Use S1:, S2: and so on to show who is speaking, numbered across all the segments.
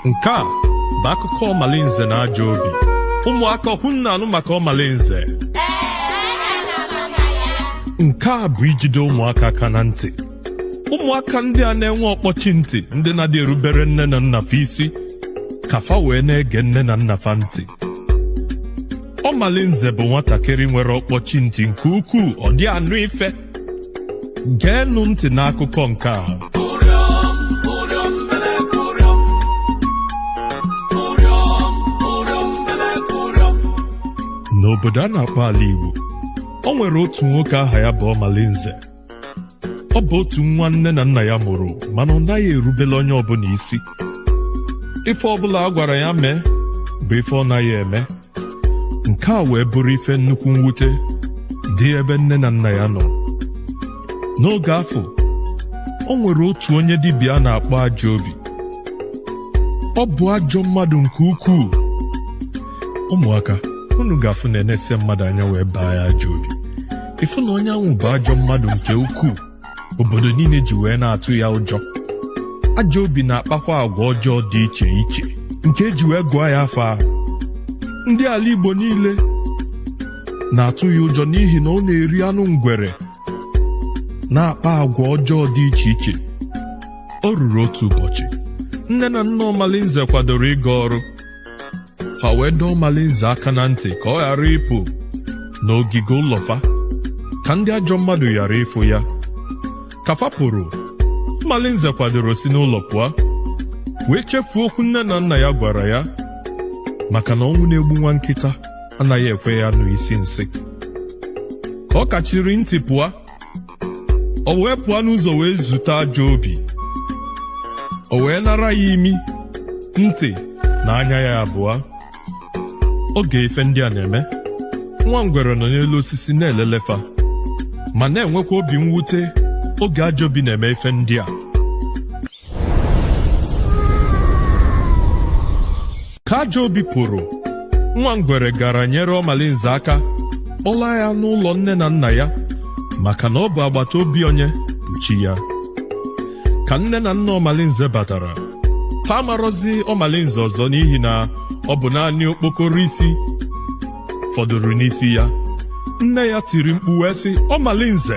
S1: nke a bụ akụkọ ọmalinze na ajọ obi ụmụaka unu na-anụ maka ọmalinze nke a bụ ijide ụmụaka aka na ntị ụmụaka ndị a na-enwe ọkpọchi ntị ndị na-adị erubere nne na nna fa isi ka fa wee na-ege nne na nna fa ntị ọmalinze bụ nwatakịrị nwere ọkpọchi ntị nke ukwuu ọ dị anụ ife geenụ ntị n'akụkọ nke a n'obodo a na-akpọ ala Igbo o nwere otu nwoke aha ya bụ ọmalinze ọ bụ otu nwa nne na nna ya mụrụ mana ọ naghị erubele onye ọbụla isi ife ọbụla a gwara ya mee bụ ife ọ naghị eme nke a wee bụrụ ife nnukwu mwute dị ebe nne na nna ya nọ n'oge afụ o nwere otu onye dibịa a na-akpọ ajọ obi ọ bụ ajọ mmadụ nke ukwuu ụmụaka unu ga-afụ na e nese mmadụ anya wee baa ya ajọ obi ị fụ na onye anwụ bụ ajọ mmadụ nke ukwuu obodo niile ji wee na-atụ ya ụjọ ajọ obi na-akpakwa agwa ọjọọ dị iche iche nke e ji wee gụọ ya afa ahụ ndị ala Igbo niile na-atụ ya ụjọ n'ihi na ọ na-eri anụ ngwere na-akpa agwa ọjọọ dị iche iche o ruru otu ụbọchị nne na nna Ọmalinze kwadoro ịga ọrụ fa wee dọọ ọmalinze aka na ntị ka ọ ghara ịpụ n'ogige ụlọ fa ka ndị ajọ mmadụ ghara ịfụ ya ka fa pụrụ ọmalinze kwadoro si n'ụlọ pụọ wee chefuo okwu nne na nna ya gwara ya maka na ọnwụ na-egbu nwa nkịta anaghị ekwe ya nụ isi nsị ka ọ kachiri ntị pụọ o wee pụọ n'ụzọ wee zute ajọ obi o wee nara ya imi ntị na anya ya abụọ oge ife ndị a na-eme nwa ngwere nọ n'elu osisi na-elele fa ma na-enwekwa obi mwute oge ajọ obi na-eme ife ndị a ka ajọ obi pụrụ nwa ngwere gara nyere ọmalinze aka kpọlaa ya n'ụlọ nne na nna ya maka na ọ bụ agbata obi onye bụ chi ya ka nne na nna ọmalinze batara ha amarọzi ọmalinze ọzọ n'ihi na ọ bụ naanị okpokoro isi fọdụrụ n'isi ya nne ya tiri mkpu wee sị ọmalinze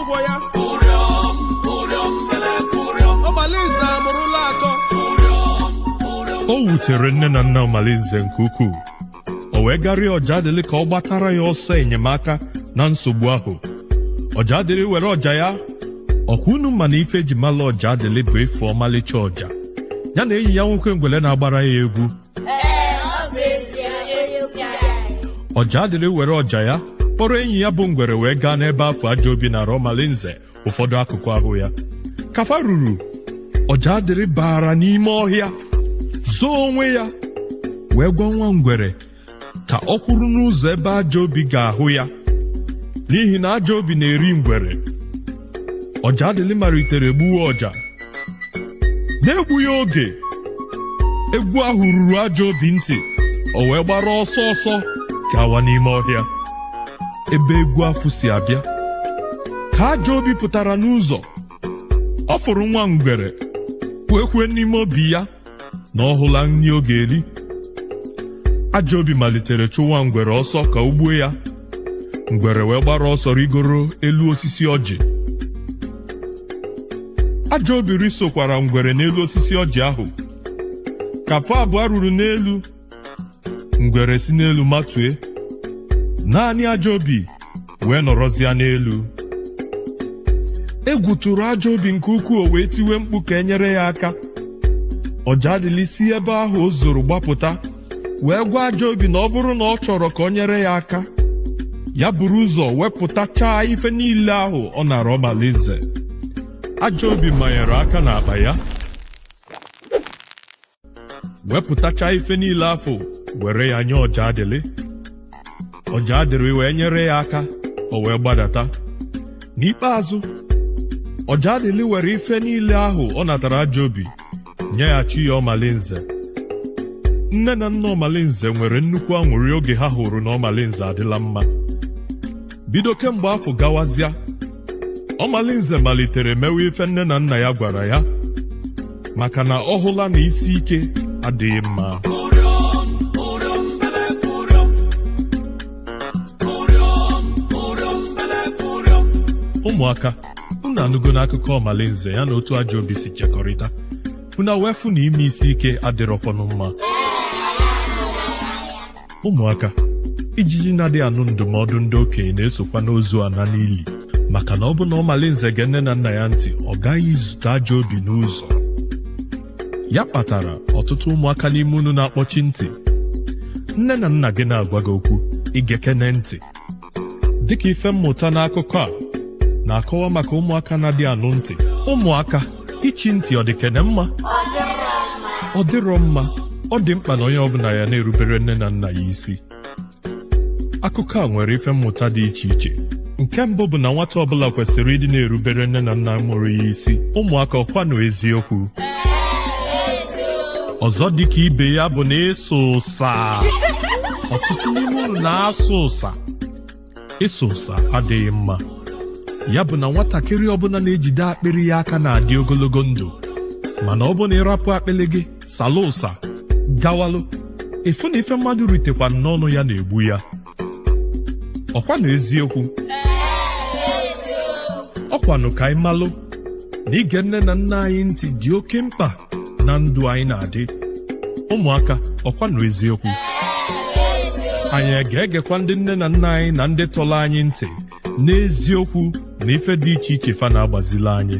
S2: ụgwọ ya
S1: ọmalinze amụrụla atọ o wutere nne na nna ọmalinze nke ukwuu o wee gaa rịọ ọja adịlị ka ọ gbatara ya ọsọ enyemaka na nsogbu ahụ ọja adịlị were ọja ya ọ kwa unu ma na ife e ji mala ọja adịlị bụ ịfụ ọmalịcha ọja ya na enyi ya nwoke ngwele na-agbara ya egwu Ee, ọ bụ ezie onye isi anyị. ọja adịlị were ọja ya kpọrọ enyi ya bụ ngwere wee gaa n'ebe afụ ajọ obi nara ọmalinze ụfọdụ akụkụ ahụ ya ka fa ruru ọja adịlị bara n'ime ọhịa zoo onwe ya wee gwa nwa ngwere ka ọ kwụrụ n'ụzọ ebe ajọ obi ga-ahụ ya n'ihi na ajọ obi na-eri ngwere ọja adịlị malitere gbuwe ọja n'egbughị oge egwu ahụ ruru ajọ obi ntị o wee gbara ọsọ ọsọ gawa n'ime ọhịa ebe egwu afụ si abịa ka ajọ obi pụtara n'ụzọ ọ fụrụ nwa ngwere wee kwue n'ime obi ya na ọ hụla nri ọ ga-eri ajọ obi malitere chụwa ngwere ọsọ ka o gbuo ya ngwere wee gbara ọsọ rigoro elu osisi ọjị ajọ obi risokwara ngwere n'elu osisi ọjị ahụ ka fa abụọ ruru n'elu ngwere si n'elu matue naanị ajọ obi wee nọrọzịa n'elu egwu tụrụ ajọ obi nke ukwuu o wee tiwe mkpu ka e nyere ya aka ọja adịlị si ebe ahụ o zoro gbapụta wee gwa ajọ obi na ọ bụrụ na ọ chọrọ ka o nyere ya aka ya buru ụzọ wepụtachaa ife niile ahụ ọ nara ọmalinze ajọ obi manyere aka n'akpa ya wepụtacha ife niile afụ were ya nye ọja adịlị ọja adịlị wee nyere ya aka o wee gbadata n'ikpeazụ ọja adịlị were ife niile ahụ ọ natara ajọ obi nyeghachi ya ọmalinze nne na nna ọmalinze nwere nnukwu anwụrị oge ha hụrụ na ọmalinze adịla mma bido kemgbe afụ gawazịa ọmalinze malitere mewe ife nne na nna ya gwara ya maka na ọ hụla na isi ike adịghị mma ụmụaka unu anụgonụ akụkọ ọmalinze ya na otu ajọ obi si chekọrịta unu wee fụ na ime isi ike adịrọkwanụ mma ụmụaka ijiji na-adịghị anụ ndụmọdụ ndị okenye na-esokwanụ ozu ana n'ili maka na ọ bụrụ na ọmalinze gee nne na nna ya ntị ọ gaghị izute ajọ obi n'ụzọ ya kpatara ọtụtụ ụmụaka n'ime unu na-akpọchi ntị nne na nna gị na-agwa gị okwu i gekene ntị dịka ife mmụta n'akụkọ a na-akọwa maka ụmụaka na-adị anụ ntị ụmụaka ichi ntị ọ dị kene mma ọ dịrọ mma ọ dị mkpa na onye ọbụla ya na-erubere nne na nna ya isi akụkọ a nwere ife mmụta dị iche iche nke mbụ bụ na nwata ọbụla kwesịrị ịdị na-erubere nne na nna mụrụ ya isi ụmụaka ọkwanụ eziokwu ọzọ dịka ibe ya bụ na ịsa ụsa ọtụtụ n'ime unu na-asa ụsa ịsa ụsa adịghị mma ya bụ na nwatakịrị ọbụla na-ejide akpịrị ya aka na-adị ogologo ndụ mana ọ bụ na ị rapụ akpịrị gị salụ ụsa gawalụ efu na ife mmadụ ritekwanụ n'ọnụ ya na-egbu ya ọkwanụ eziokwu ọkwanụ ka anyị malụ na ige nne na nna anyị ntị dị oke mkpa na ndụ anyị na-adị ụmụaka ọkwanụ eziokwu anyị ga-egekwa ndị nne na nna anyị na ndị tọlụ anyị ntị n'eziokwu na ife dị iche iche fa na-agbazili anyị